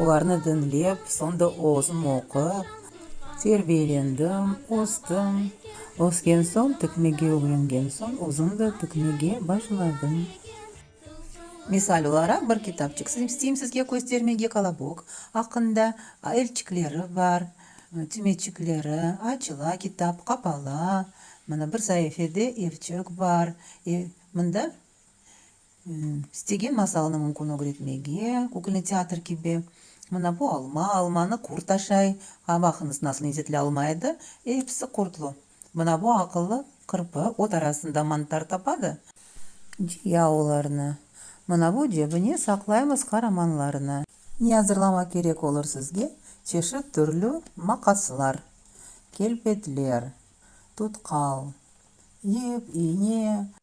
Olarnı diñlep, soñ da özüm oqup, terbiyelendim, östüm. Ösken soñ, tikmege ögrengen soñ, özüm de tikmege başladım. Misal olaraq, bir kitapçıq isteyim sizge köstermege, Kolobok aqqında, elçikleri bar, tümeçikleri, açıla kitap, qapala, mına bir saifede elçik bar, mında İstegen masalını mümkün ögretmege, kükülni teatr kibi. Mına bu alma, almanı kurt taşay. Ha, baqıñız, nasıl lezzetli alma edi! Episi kurtlu. Mına bu aqıllı qırpı ot arasında mantar tapadı. Ciya olarnı. Mına bu cebine saqlaymız qaramanlarnı. Ne azırlamaq kerek olur sizge? Çeşit türlü maqaslar, kelpetler, tutqal, ip, iğne.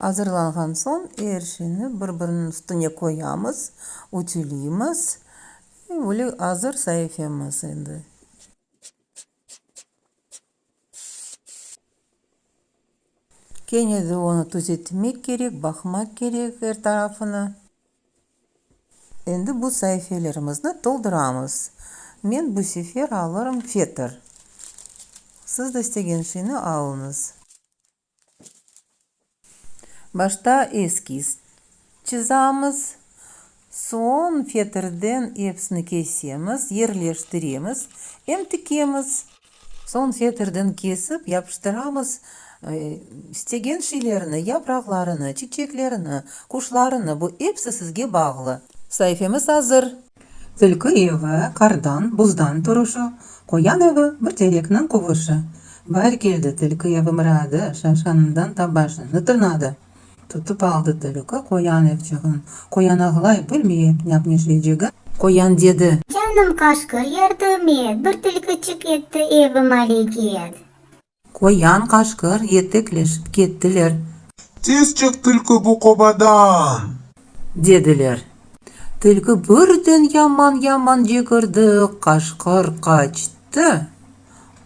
Azırlanğan soñ, er şeyni bir-biriniñ üstüne qoyamız, ütüleymiz. E, böyle azır saifemiz endi. Kene de onı tüzetmek kerek, baqmaq kerek er tarafına. Endi bu saifelerimizni tolduramız. Men bu sefer alırım fetr. Siz de istegen şeyni alıñız. Başta eskiz çizamiz, soñ fetrden epsini kesemiz, yerleştiremiz, em tikemiz. Soñ fetrden kesip yapıştıramız, istegen şeylerni, yapraqlarını, çiçeklerini, quşlarını, bu epsi sizge bağlı. Saifemiz azır. Tilki evi, qardan, buzdan turuşu, Qoyan evi, bir terekniñ quvuşu. Bahir keldi, tilki evi mıradi, Şavşanından tabaşını tırnadı. Tutıp aldı tilki qoyan evçığın, Qoyan ağlay, bilmey, nâpneşleycegin. Qoyan dedi. Canım qaşqır, yardım et, Bir tilkiçik etti evim aleket. Qoyan, qaşqır, yetekleşip kettiler. Tez çıq, tilki, bu qobadan! Dediler. Tilki birden yaman-yaman cekirdi, qaşqır qaçtı,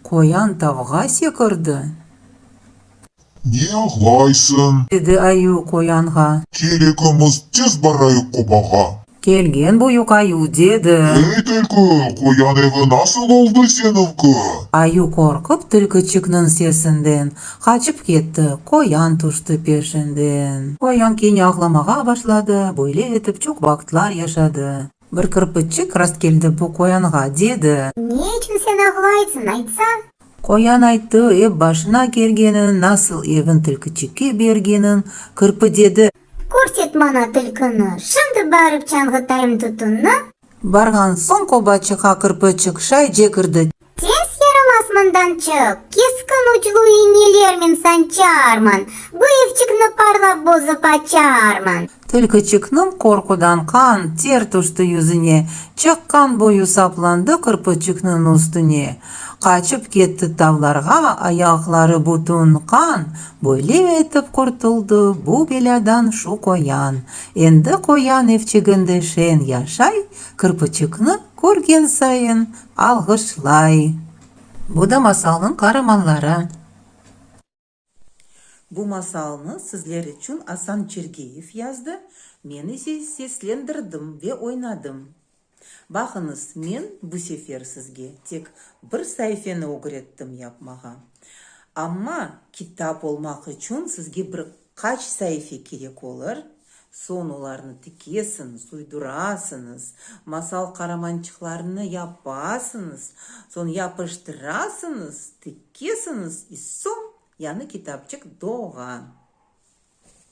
qoyan tavğa sekirdi. Ne ağlaysıñ? Dedi ayı qoyanğa. Kerekimiz, tez barayıq qobağa! Kelgen bu yük ayuv dedi. Ey, tilki, qoyan evi nasıl oldı seninki? Ayuv qorqıp tilkiçikniñ sesinden qaçıp ketti, qoyan tüşti peşinden. Qoyan kene ağlamağa başladı, böyle etip çoq vaqıtlar yaşadı. Bir kirpiççik rastkeldi bu qoyanğa, dedi. Ne içün sen ağlaytsıñ, aytsa? Qoyan ayttı, ep başına kelgenin, nasıl evin tilkiçikke bergenin, kirpi dedi. Kort et maña tülküni. Şimdi barıp çanğıtayım tütünni. Barğan soñ oba çıqa Kırpıçıq şayce kirdi. Tez yaramaz mından çık. Keskin uclu iğnelermen sançarman. Bu evçikni parlap bozıp açarman. Tülküçikniñ qorqudan qan, ter tüşti yüzüne. Çıqqan boyu saplandı Kırpıçıknıñ üstüne. Qaçıp ketti tavlarğa, ayaqları bütün qan, Böyle etip qurtuldı bu belâdan şu qoyan. Endi qoyan evçiginde şen yaşay, Kirpiçikni körgen sayın alğışlay. Bu da masalnıñ qaramanları. Bu masalnı sizler içün Asan Çergeyev yazdı, men ise seslendirdim ve oynadım. Baqıñız, men bu sefer sizge tek bir saifeni ögrettim yapmağa. Amma kitap olmaq içün sizge bir qaç saife kerek olur, Soñ olarnı tikesiñiz, uydurasıñız, masal qaramançıqlarını yapasıñız, soñ yapıştırasıñız, tikesiñiz, i soñ yanı kitapçıq doğa.